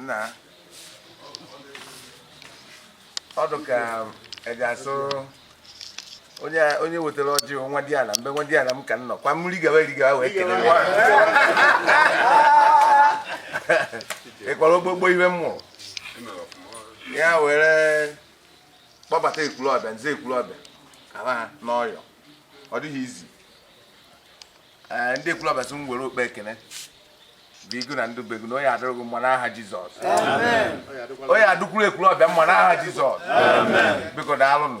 nna ọ dị ka e ji asụ onye onye wetara ọjị nwa di ala mbe nwa di ala m ka m nọ kwa mmiri gawa eri gawa wee kele ya ịkwara ogbogbo iwe m mụrụ ya were kpọbata ekwulọbịa nze ekwulọbịa ala ha n'ọyọ ọ dịghịzi ee ndị ekwulọbịa sị m were okpe ekele bụ igu na ndụbe gị na ọ ya-adịrị gị mma n'aha jizọs ọ ya-adịkwuru ekwulọbịa mma n'aha jizọs biko daalụnụ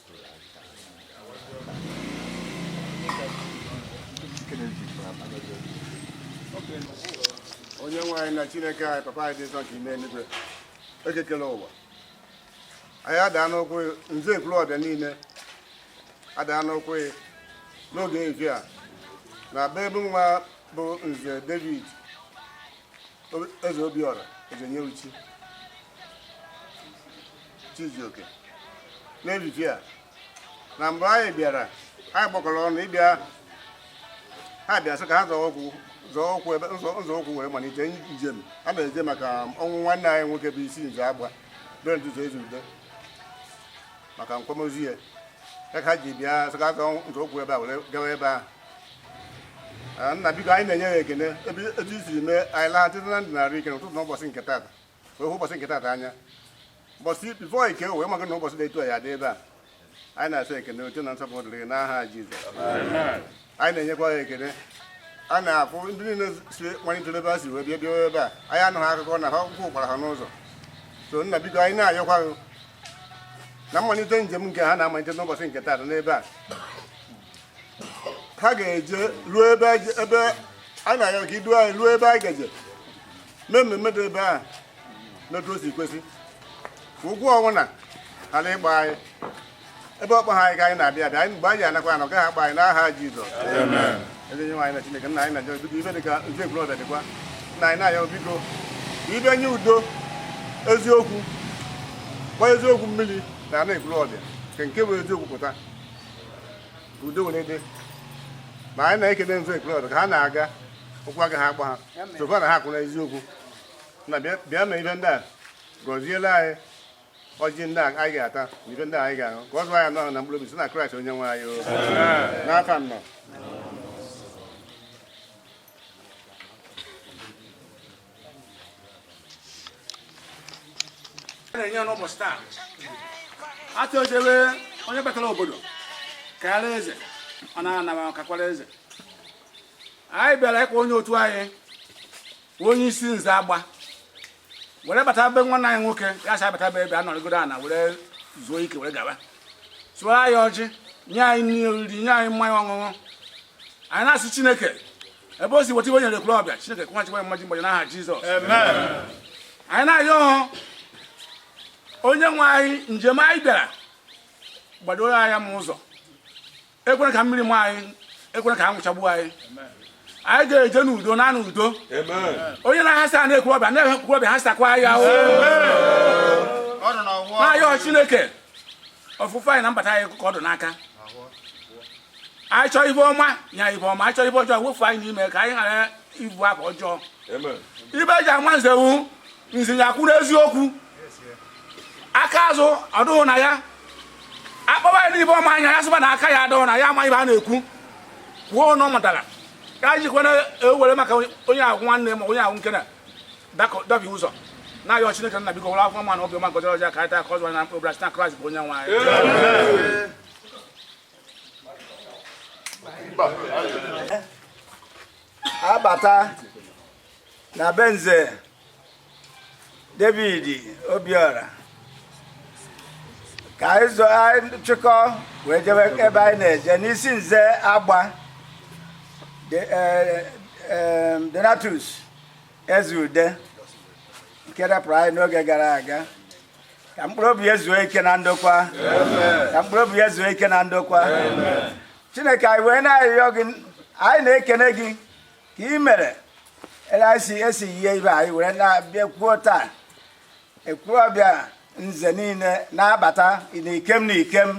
onye nwe anyị na chineke anyị papa anyị dị nsọ nke ime eluigwe eke kele ụwa anyị adaa n'ụkwụ nze ekwulọbịa niile adaa n'ụkwụ n'oge evi a na be ebe nwa bụ nze david eze obiọra eze nye uchi Chijioke n'ejije a na mgbe anyị bịara anyị gbakọrọ ọnụ ịbịa ha bịa sị ka ha zọọ ụkwụ zọọ ụkwụ ebe nzọ ụkwụ wee malite njem a na-eje maka ọnwụ nwanne anyị nwoke bụ isi nze agba bere ntutu ezi ude maka nkwamozu ya ka ha ji bịa sị ka ha zọọ nzọ ụkwụ ebe a were gawa ebe ahụ Ah, nna biko anyị na-enye gị ekene ebe etu i siri mee anyị laghachi na ndụ na ahụ ike n'ụtụtụ n'ụbọchị nke taata wee hụ ụbọchị nke tata anya ụbọchị bifo ike wee maga na ụbọchị na-etu ya dị ebe a anyị na-asị ekene oche na nsọpụrụ dịrị gị n'aha Jizọs anyị na-enyekwa gị ekene a na-afụ ndị niile si malitere ebe a si wee bịa bịa ebe a anyị anụghị akụkọ na ha ụkwụ kpọrọ ha n'ụzọ so nna biko anyị na-ayọkwa gị na mmalite njem nke ha na-amalite n'ụbọchị nke taata n'ebe a ha ga-eje ruo ebe a na-ayọ ka i du anyị ruo ebe anyị gaje mee mmemme dị ebe a n'otu o si kwesị ụkwụ ọbụna ghara ịkpọ anyị ebe ọ kpọghị anyị ka anyị na-abịa abịa anyị mgbe anyị anakwa ana ọ gaghị akpọ anyị n'aha Jizọs ebe onye nwe anyị na Chineke nna anyị na-ayọ biko ive dị ka udo Ekwulọbịa dịkwa nna anyị na-ayọ biko ibe nye udo eziokwu gbaa eziokwu mmiri na ana Ekwulọbịa nke nke bụ eziokwu pụta udo were dị ma anyị na-ekele nzọ ekele ọdụ ka ha na-aga ụkwụ agaghị akpọ ha so far na ha kwụ na eziokwu nna bịa me ive ndị a gọzielu anyị ọjị ndị anyị ga-ata na ive ndị anyị ga-aṅụ ka ọ zụọ anyị n'ahụ na mkpụrụ obi si na kraịst onye nwe anyị n'ava nna na-enye n'ụbọchị taa atụ ojebe onye batara obodo kaara eze ọ na-anaba kaakwara eze anyị bịara ịkwa onye otu anyị onye isi nze agba were bata be nwanne anyị nwoke ya sị bata be ebe a nọrịgodo ana were zuo ike were gaba tụọ anyị ọjị nye anyị nri oriri nye anyị mmanya ọṅụṅụ anyị na-asị chineke ebe o si weta ibe nyere Ekwulọbịa chineke kwụghachikwa ya mmaji mmaji n'aha jizọs anyị na-ayọ ọhụ onye nwe anyị njem anyị bịara gbadoro anya m ụzọ ekwela ka mmiri maa anyị ekwela ka anwụ chagbuo anyị anyị ga-eje n'udo na n'udo onye na-ahasa n'Ekwulọbịa n'Ekwulọbịa hasakwa ya a na-ayọ chineke ọfụfụ anyị na mbata anyị ka ọ dụ n'aka anyị chọọ ibe ọma nye anyị ibe ọma anyị chọọ ibe ọjọọ wefu anyị n'ime ka anyị ghara ịbụ aka ọjọọ ibe e ji ama nze wụ nze ya kwuru eziokwu aka azụ adụghụ na ya a kpọba ya n'ibe ọma anya ya sị ba na aka ya adụghụ na ya ama ibe a na-ekwu kwuo ọnụ ọ mụtara ka anyị jikwana ewere maka onye agwụ nwanne ma onye agwụ nke na dabi ụzọ na-ayọ Chineke nna biko were afọ ma na obiọma gọziere ọjị a ka anyị taa ka ọ zụọ ahụ na mkpụrụ obi site na Kraịst bụ onye nwe anyị a bata na be nze David Obiora ka anyị zuo anyị chịkọọ wee jebe ebe anyị na-eje n'isi nze agba de- eh, eh, Donatus Ezeude nke rapụrụ anyị n'oge gara aga ka mkpụrụ obi ya zuo ike na ndokwa ka mkpụrụ obi ya zuo ike na ndokwa chineke anyị wee na-arịọ gị anyị na-ekene gị ka i mere esi esi yie ibe anyị were na-abịakọ taa Ekwulọbịa nze niile na-abata na ikem na ikem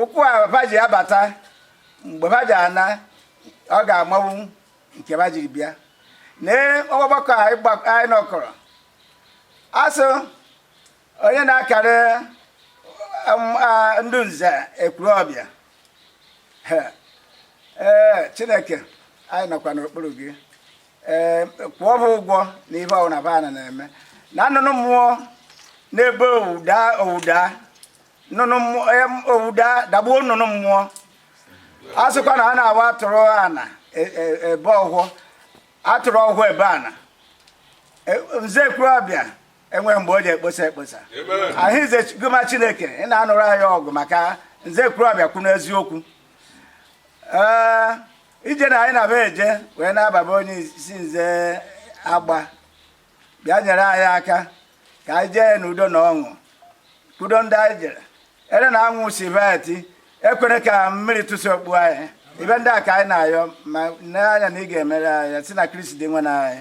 ụkwụ a ba ji abata mgbe ha ji ana ọ ga-amanwu nke ha jiri bịa lee ọgbakọ anyị nọkọrọ a sụ onye na-akara um, ndị nze Ekwulọbịa ee chineke anyị nọkwa n'okpuru gị ee kwụọ ha ụgwọ na ihe ọbụla ba na na-eme na nnụnụ mmụọ na-ebe owuda owuda nnụnụ owuda dagbuo nnụnụ mmụọ a sịkwa na a na-awa atụrụ ana e, e, ebe ọhụụ atụrụ ọhụụ ebe a na e, nze ekwulọbịa enweghị mgbe o ji ekposa ekposa ahụ ize goma chineke ị na-anụrụ anyị ọgụ maka nze ekwulọbịa kwuru eziokwu ee ije na anyị na-abịa eje wee na-aba be onye isi nze agba bịa nyere anyị aka ka anyị jee n'udo na ọṅụ udo ndị anyị jere ere na anwụ si veti ekwere ka mmiri tụsị okpu anyị ife ndị a ka anyị na-ayọ ma nee anya na ị ga-emere anyị si na kristi dinwenụ anyị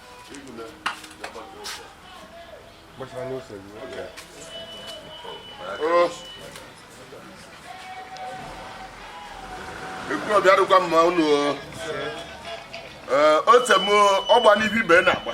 ekwulọbịa dịkwa mma unu ote m ọgba n'ihu ibe na-agba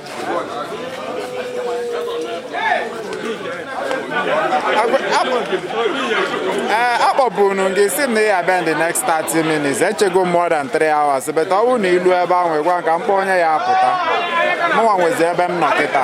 akpọburu gị si na ya abịa the next 30 minutes echego more than 3 hours but ọ bụrụ na i lu ebe ahụ ị gwa m ka m kpọọ onye ya apụta mụnwa nwezi ebe m nọ kịta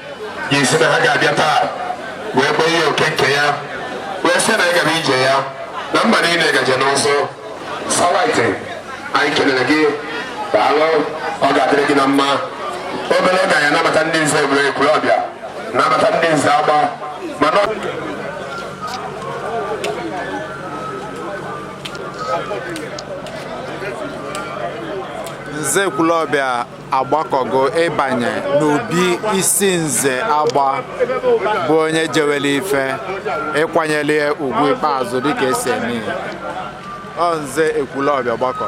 ga-esi na ha ga-abịa taa wee kpọọ ihe oke nke ya wee sị na ịgara ije ya na mmadụ niile ga-eje n'ụzọ it's alright anyị kelere gị daalụ ọ ga-adịrị gị na mma obere oge anyị anabata ndị nze ebere ekwulọbịa nabata ndị nze agba mana nze ekwulọbịa agbakọgo ịbanye n'obi isi nze agba bụ onye jewere ife ịkwanyere ya ugwu ikpeazụ dịka e si eme ya ọ nze ekwulọbịa gbakọ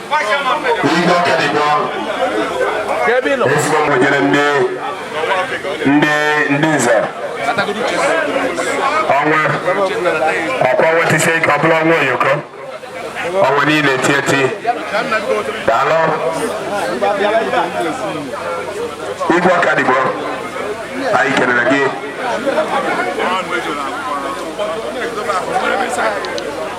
Igwe aka dị gị ọrụ. Ezigbo mgbe nyere ndị ndị ndị nze ọnwa ọkwa ọnwa tisi ike ọ bụla ọnwa oyoko ọnwa niile eti eti daalụ igwe ọkadigbo anyị kelere gị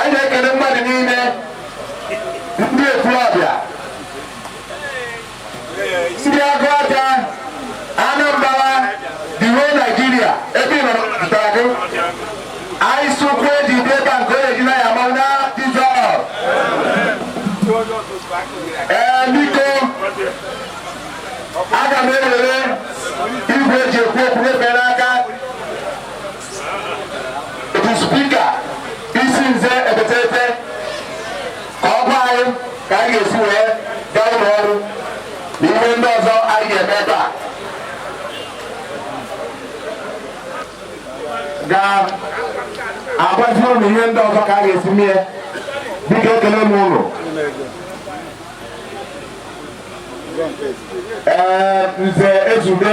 anyị na-ekele mmadụ niile ndị ekwulọbịa ndị Agụata Anambra the whole Nigeria ebe ị nọrọ pụtara gị anyị sụkwu eji dị ebe a nke onye ji na ya ma na Jizọs ee biko aga m ewere igwe eji ekwu okwu nyefee n'aka spika isi nze ebetete ka ọ gwa anyị ka anyị ga-esi wee gaa ụlọ ọrụ na ihe ndị ọzọ anyị ga-eme ebe a ga-agwazi ụnụ ihe ndị ọzọ ka a ga-esi mee biko ekele m ụnụ ee nze ezube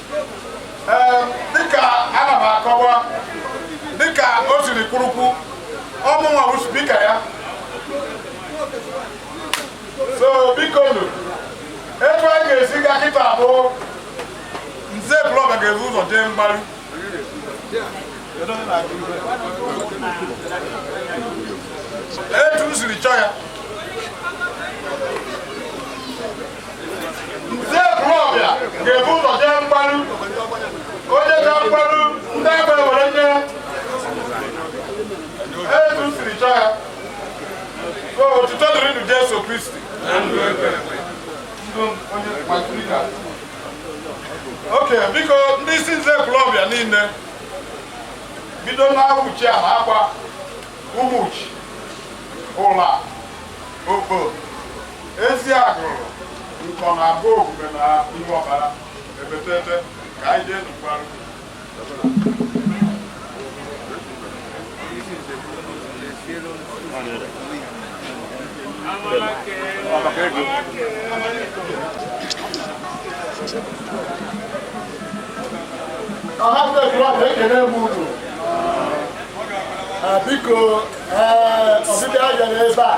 dịka ana m akọwa dịka o siri kwuru okwu ọ mụnwa bụ spika ya so biko nụ etu a ga-esi ga kịta bụ Nze Ekwulọbịa ga-ebu ụzọ jee mgbaru etu m siri chọọ ya Nze Ekwulọbịa ga-ebu ụzọ jee mgbaru o jechaa mgbaru ndị agba ewere nye etu m siri chọọ ya so otuto dịrịnụ Jesu Kristi Ndụ onye Matrika. oke biko ndị isi Nze Ekwulọbịa niile bido n'Ụmụchiana Agba ụmụchi ụla okpo Eziagụlụ Nkọnọ Abọgwume na Ihuọkpala ebetete ka anyị jee mgbaru. ọha ndị ejụwa bụ ekele m unu biko ọbịbịa ya n'ebe a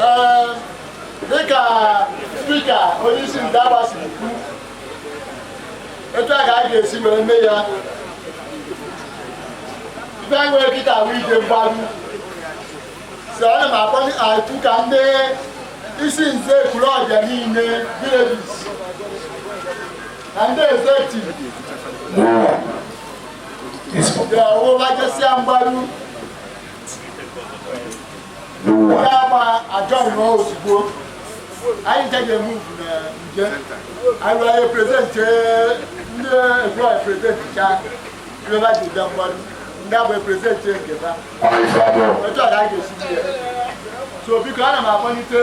Ee, dịka spika onye isi ndị Agba si kwu etu a ka a ga-esi were mee ya ife anyị nwere kịta wụ ije mgbaru so ana m akpọku ka ndị isi nze Ekwulọbịa niile villages na ndị ezektiv Mụnwa. Isi. ga-awụ ma jesịa mgbaru n'ụwa anyị ncha ga-eme ugwu na nje anyị were anyị present ndị egwu anyị present cha rịọba ji bịa mmadụ ndị abụ present nke ha otu a ga-esi so biko ana m akpọlite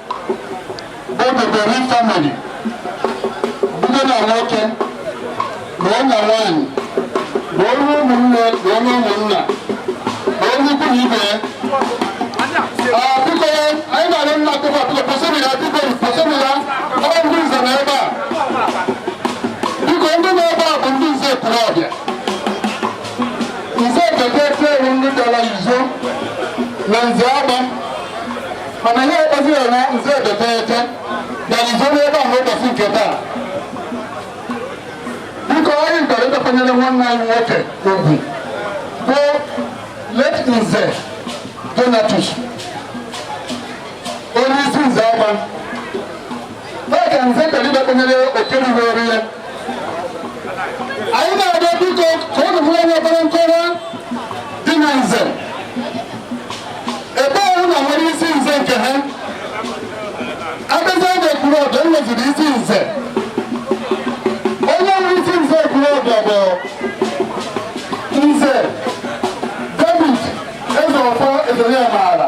Odebere family both na nwoke both na nwanyị both na ụmụnne both na ụmụnna both na ikwu na ibe ya. Ah, biko ya, anyị na-arịọ nna akụkọ biko kwụsịrị ya biko kwụsịrị ya ọ bụ ndị nze na ebe a biko ndị nọ ebe a bụ ndị nze pụrụ ọbịa nze bekee tewu ndị dara izo na nze agba mana ya ekpeziri na nze ebeteete na izoro ebe ahụ ụbọchị nke taa biko anyị bịara ịkwanyere nwanne anyị nwoke ugwu bụ late nze Donatus onye isi nze Agba n'oge nze kpelibe kpenyere oke ruru eru ya anyị na-arịọ biko ka ụnụ hụ onye obere nkọwa dị na nze ebe ọ bụ na e nwere isi nze nke ha abịazi oge kwuru ọdọ e nweziri isi nze onye nwere isi nze kwuru ọdọ bụ nze David Ezeọfọ ezere ya maara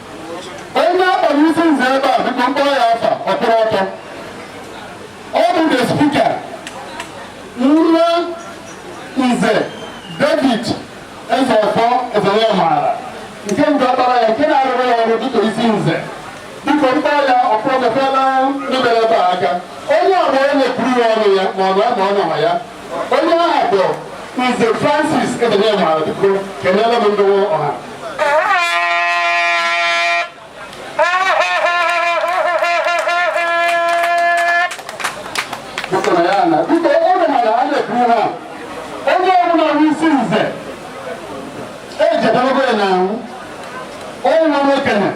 onye a kpọrọ isi nze ebe a bụkwa m kpọọ ya afa ọ kwụrụ ọtọ ọ bụ the speaker nwa nze David Ezeọfọ eze ya maara nke nze ọkpara ya nke na-arụrụ ya ọrụ dịka isi nze biko m kpọọ ya ọ kwụrụ mepela ndị mere ebe a aka onye ọbụla na-ekwuru ya ọnụ ya ma ọ na ma ọ nọma ya onye aha bụ Nze Francis Edenye Mara biko keneere m ndịwo ọha biko na ya na biko ụlọ mara a na-ekwu ha onye ọbụla bụ isi nze ejedebe ya na ahụ onye nwere okenye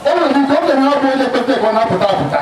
o nwere ike okenye ọ bụ onye kpete ka ọ na-apụta apụta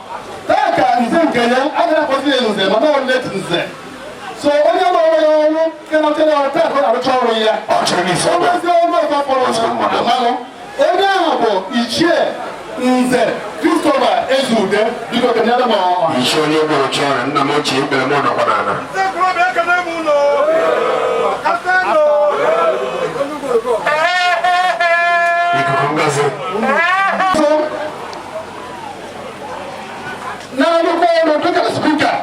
taa ka nze nke ya agaghị akpọzi ya nze mana ọ late nze so onye ma onwe ya ọrụ nke na-achọ ya ọrụ taa ka ọ na-arụcha ọrụ ya ọ chọrọ n'isi ọ bụrụzi ọrụ ọzọ fọrọ ya amalụ onye ahụ bụ ichie nze Christopher Ezeude biko keneere m ọha isi onye gburu chọrọ nna m ochie ikpere m nọkwa n'ala ikuku ngozi so na-arụkwa ọrụ dịka speaker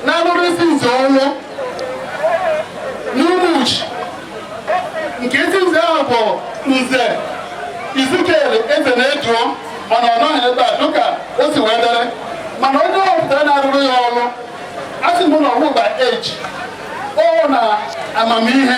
na-arụrụ isi nze ọrụ n'Umuchi nke isi nze ahụ bụ nze Ezekiel eze na-eduo mana ọ nọghị ebe a dịka o si wee dere mana onye ọpụtara na-arụrụ ya ọrụ a sị m na ọgwụgba eji ọ na amamihe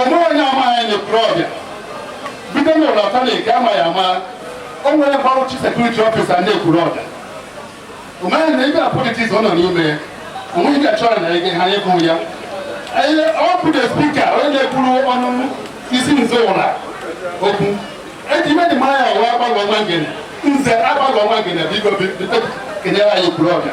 ọnụ onye amaghị anyị ntorobịa bido n'ụlọ atọ na ike amaghị ama o nwere bụ chief security officer ndị Ekwulobia o meghị na ebe a politics ọ nọ n'ime ya onweghị ga chọrọ na ege ha ịbụ ya ọ bụ the speaker onye na-ekwuru ọnụ isi nze Ula okwu eji ime dị mara ya ọwa agbalụ ọma ngene nze agbalụ ọma ngene biko biko kenyere anyị Ekwulobia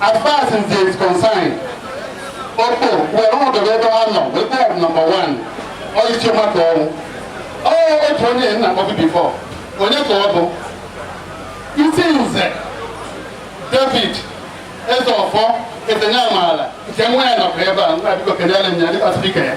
As far as Nze is concerned, Okpo were ọnọdụ ebe ọ nọ wee kpọọ m number one ọyịchi maka ọnwụ. Ọ otu onye na-akpọbu before, onye ka ọ bụ? Isi Nze David Ezeọfọ etenye amaala nke nwa ya nọkwa ebe a nwa biko kenyere m ya dịka speaker ya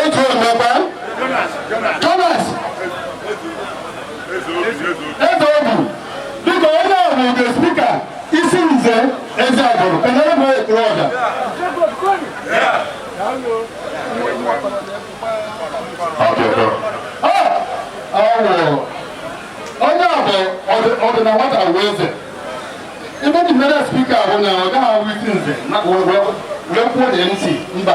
otu omekwa Jonas eze obu dịka onye ahụ nke speaker isi nze Eziagulu kenyere bụ Ekwulobia onye a bụ ọdịna nwata bụ eze ebe dị mere speaker bụ na ọ gaghị ahụ isi nze wee kwuo na ntị mba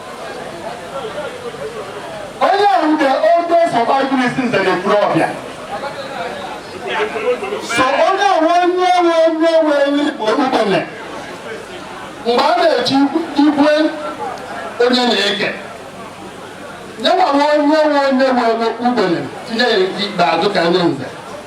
onye ahụ the oldest surviving isi nze n'Ekwulobia so onye ahụ onye nwe onye nwe igbo ugbene mgbe a na-echi igwe onye na-eke nyenwa nwe onye nwe onye nwe ugbene tinye ya nke ikpeazụ ka ndị nze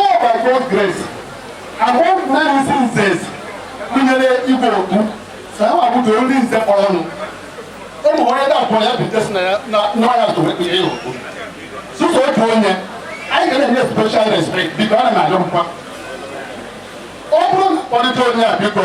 All by God's grace, among many nzes e nyere igwe okwu na ha bụ the only nze kpọrọ ọnụ. Ụmụ onye na-abụọ ya bụ Jesi na ya na nwa ya tụrụ ekpere ya okwu. Sọsọ otu onye, anyị ga na-enye special respect biko ana m arịọ nkwa. Ọ bụrụ na kpọlite onye a biko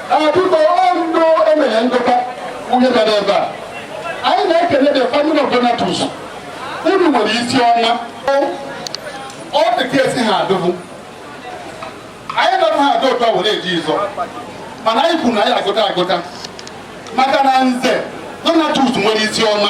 Biko ọnụ emere ndọta onye bịara ebe a anyị na-ekele the family of Donatus unu nwere isi ọma ọ dị ka esi ha adụbụ anyị dọta ha adụ ụtọ were eji ịzọ mana anyị kwuru na anyị agụta agụta maka na nze Donatus nwere isi ọma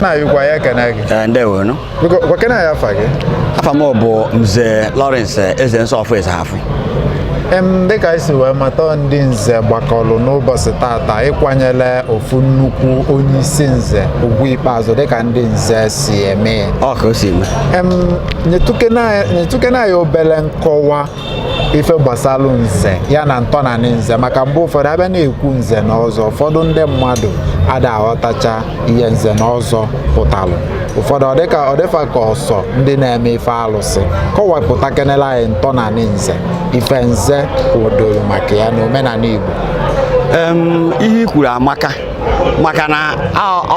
na-ayịkwa ya ekene gị Ee, ndewo nụ Biko, gwakene anyị afa gị. afa m bụ nze Lawrence eze nsọ ọfụ eze hafụ Em, dịka anyị si wee mata ndị nze gbakọrọ n'ụbọsị tata ịkwanyelụ ofu nnukwu onye isi nze ugwu ikpeazụ dịka ndị nze si eme ya. ọ ka o si eme Em, nyetụkene anyị- nyetụkene anyị obele nkọwa ife gbasalụ nze ya na ntọnanị nze maka mgbe ụfọdụ a bịa na-ekwu nze na ọzọ ụfọdụ ndị mmadụ ada aghọtacha ihe nze na ọzọ pụtalụ ụfọdụ ọ dị ka ọ dị fa ka ọ sọ ndị na-eme ife alụsị kọwapụtakenelụ anyị ntọnanị nze ife nze kwụdoro maka ya na omenanị Igbo ihe i kwuru amaka maka na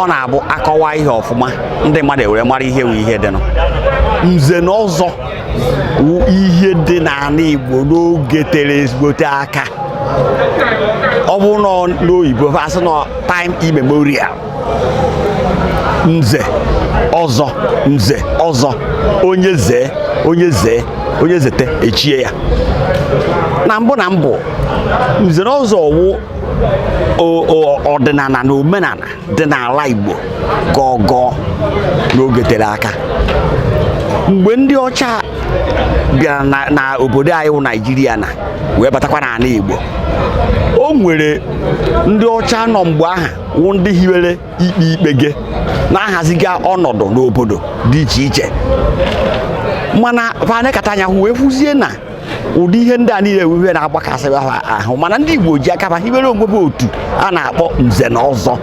ọ na-abụ a kọwaa ihe ọfụma ndị mmadụ e were mara ihe wụ ihe dịnụ nze na ọzọ ihe dị n'ana Igbo n'oge tere ezigbote aka ọ bụ nọọ n'oyibo a sị n'ọ time immemorial nze ọzọ nze ọzọ onye zee onye zee onye zete e chie ya na mbụ na mbụ nze na ọzọ wụ ọdịnana na omenana dị n'ala Igbo gboo gboo n'oge tere aka mgbe ndị ọcha bịara na obodo anyị wụ Naijiria na wee batakwa n'ana Igbo o nwere ndị ọcha nọ mgbe aha wụ ndị hiwere ikpe ikpe ga na-ahaziga ọnọdụ n'obodo dị iche iche mana fa nekata anya wee kwuzie na ụdị ihe ndị a niile e wube na-agbakasị ha ahụ mana ndị Igbo ji aka ba hibere onwe ha otu a na-akpọ nze na ọzọ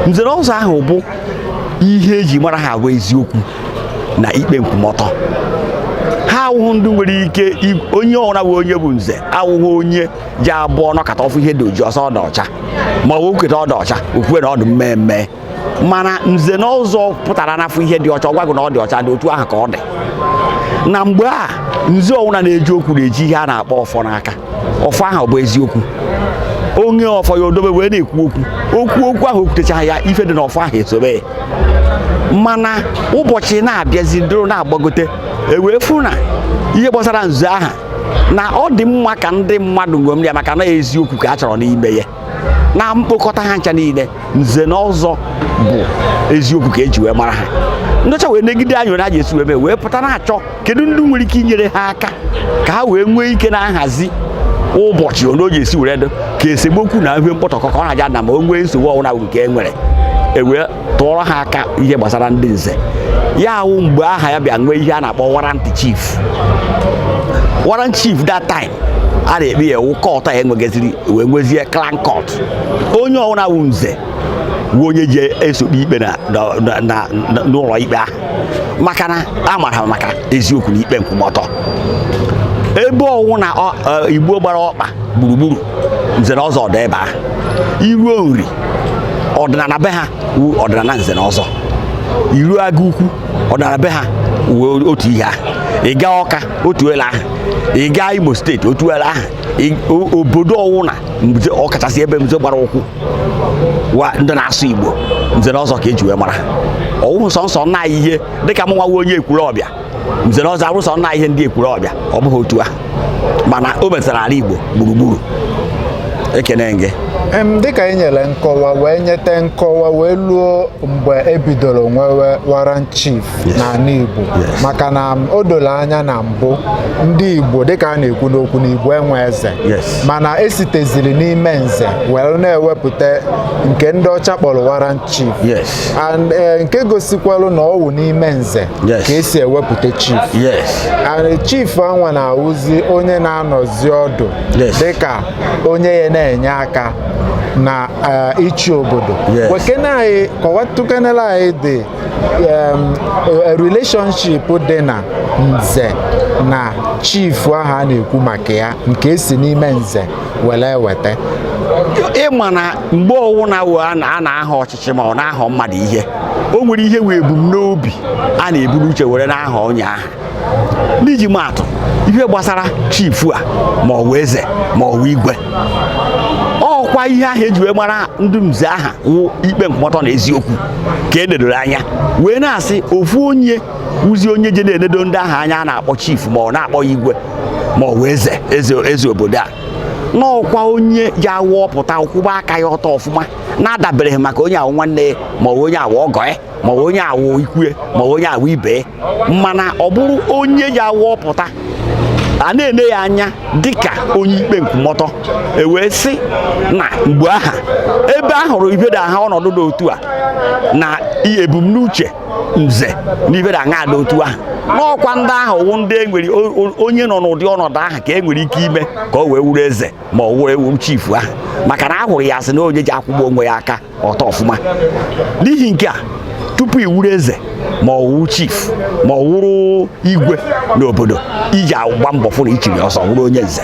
nze na ọzọ ahụ bụ ihe e ji mara ha bụ eziokwu na ikpe nkwụmọtọ ha awụghị ndị nwere ike onye ọwụna wụ onye bụ nze awụghị onye ji abụ ọ nọkata ọ fụ ihe dị oji ọ sị ọ dị ọcha ma ọ bụ o kwukata ọ dị ọcha o kwue na ọ dị mmee mmee mana nze na ọzọ pụtara na a fụ ihe dị ọcha ọ gwa gị na ọ dị ọcha dị otu ahụ ka ọ dị na mgbe a nze ọwụna na-eji okwu na-eji ihe a na-akpọ ọfọ n'aka ọfọ ahụ bụ eziokwu onye ọfọ ya o dobe wee na-ekwu okwu o kwuo okwu ahụ o kwutecha ya ife dị n'ọfọ ahụ esobe mana ụbọchị na-abịazi dịrụ na-agbagote e wee fụ na ihe gbasara nze aha na ọ dị mma ka ndị mmadụ ṅomiri ya maka na eziokwu ka a chọrọ n'ime ya na mkpokọta ha ncha niile nze na ọzọ bụ eziokwu ka eji wee mara ha ndị ọcha wee negide anya onye a ji esi wee mee wee pụta na-achọ kedu ndị nwere ike inyere ha aka ka ha wee nwee ike na-ahazi ụbọchị onye o ji esi were dị ka esemokwu na ihe mkpọtọkọ ka ọ na-aja na ma o nwee nsogbu ọwụna wụ nke e nwere ewee tụọrọ ha aka ihe gbasara ndị nze ya wụ mgbe aha ya bịa nwee ihe a na-akpọ warrant chief warrant chief that time a na-ekpe ya wụ court a enwegaziri wee nwezie clan court onye ọwụna wụ nze wụ onye ji eso ekpe ikpe na- na- na- na- n'ụlọ ikpe ahụ maka na a mara maka eziokwu na ikpe nkwụmọtọ ebe ọwụ na ọ- ọ, igbo gbara ọkpa gburugburu nze na ọzọ ọ dị ebe aha i ruo Nri ọdịnala be ha wụ ọdịnala nze na ọzọ i ruo Agụ ukwu ọdịnala be ha wụ otu ihe ahụ ị gaa Ọka otu ele ahụ ị gaa Imo steeti otu ele ahụ ị- o- obodo ọwụna mgbe- ọkachasị ebe mzo gbara ụkwụ wụ ndị na-asụ igbo nze na ọzọ ka eji wee mara ha ọ wụhụ sọnsọ naanị ihe dịka mụnwa wụ onye Ekwulọbịa nze na ọzọ a wụ sọ nna ihe ndị Ekwulọbịa ọ bụghị otu a mana o metara ala Igbo gburugburu ekene m gị dịka ị nyere nkọwa wee nyete nkọwa wee luo mgbe ebidoro nwewe warrant chief n'anị Igbo maka na o doro anya na mbụ ndị Igbo dịka a na-ekwu n'okwu na Igbo enwe eze mana esiteziri n'ime nze wee na-ewepụta nke ndị ọcha kpọrọ warrant chief and eh, nke gosikwalụ na ọwụ n'ime nze ka esi ewepụta chief and chief anwa na-awụzi onye na-anọzi ọdụ dịka onye ya na-enye aka na eh, ịchị obodo wekene anyị kọwatụkenere anyị the eh, relationship dị na nze na chief ahụ a na-ekwu maka ya nke esi n'ime nze were weta ị ma na mgbe ọwụna a na-ahọ ọchịchị ọchịchị ma ọ na-ahọ mmadụ ihe o nwere ihe wụ ebumnobi a na-eburu uche were na-ahọ onye ahụ n'iji maatụ ihe gbasara chifu a ma ọ wụ eze ma ọ wụ igwe ọkwa ihe ahụ eji wee mara ndị nze aha wụ ikpe nkwụmọtọ na eziokwu ka e nedoro anya wee na-asị ofu onye wụzi onye je na-enedo ndị ahụ anya a na-akpọ chifu ma ọ na-akpọ ya igwe ma ọ wụ eze eze eze obodo a n'ọkwa onye ji awụ ọ pụta ọ kwụba aka ya ọtọ ọfụma na-adabereghị maka onye a wụ nwanne ya ma ọ wụ onye a wụ ọgọ ya ma ọ wụ onye a wụ ikwu ya ma ọ wụ onye a wụ ibe ya mana ọ bụrụ onye ji awụ ọ pụta a na-ene ya anya dịka onye ikpe nkwụmọtọ ewee sị na mgbe aha ebe a hụrụ ihe ndị aha ọnọdụ dị otu a na i- ebumnuche nze na ihe ndị aha dị otu ahụ n'ọkwa ndị ahụ wụ ndị e nwere o- o- onye nọ n'ụdị ọnọdụ ahụ ka e nwere ike ime ka o wee wụrụ eze ma ọ wee wụrụ chief ahụ maka na a hụrụ ya asị na onye ji akwụba onwe ya aka ọtọ ọfụma n'ihi nke a tupu ị wụrụ eze ma ọ wụrụ chief ma ọ wụrụ igwe n'obodo iji agba mbọ fụ na i chiri ọzọ wụrụ onye nze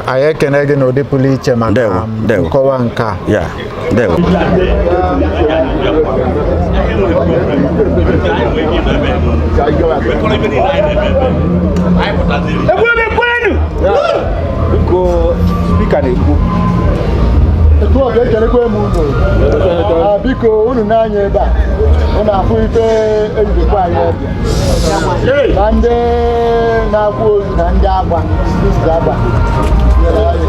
anyị ekene gị n'ụdị pụrụ iche maka Ndewo, ndewo. nkọwa nke a Yeah. ndewo biko spika na-ekwu etu ọ ga-ekelekwa m unu Ah, biko unu nee anya ebe a unu afụ ife e ji nekwaa anyị ọbịa na ndị na-akwa ozu na ndị agba ndị agba nyere anyị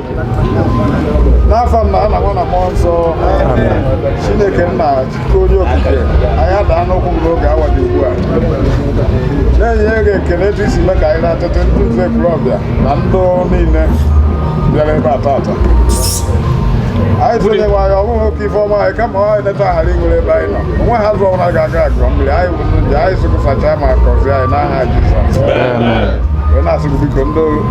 n'afa nna na nwa na mmụọ nsọ chineke nna chike onye okike anyị adaa n'ụkwụ gị n'oge awa dị ugbu a na-enye gị ekele etu isi mee ka anyị na-atete ndị nze Ekwulọbịa na ndụ niile bịara ebe a taata anyị tụnyewa anyị ọ bụghị oke ife ọma anyị kama anyị neta ghara inwere ebe anyị nọ onwe ha zụ ọbụla ga-aga agụọ mmiri anyị bụ ndị njọ anyị sị ka ị sachaa ma gọzie anyị n'aha Jizọs wee na-asị gị biko ndị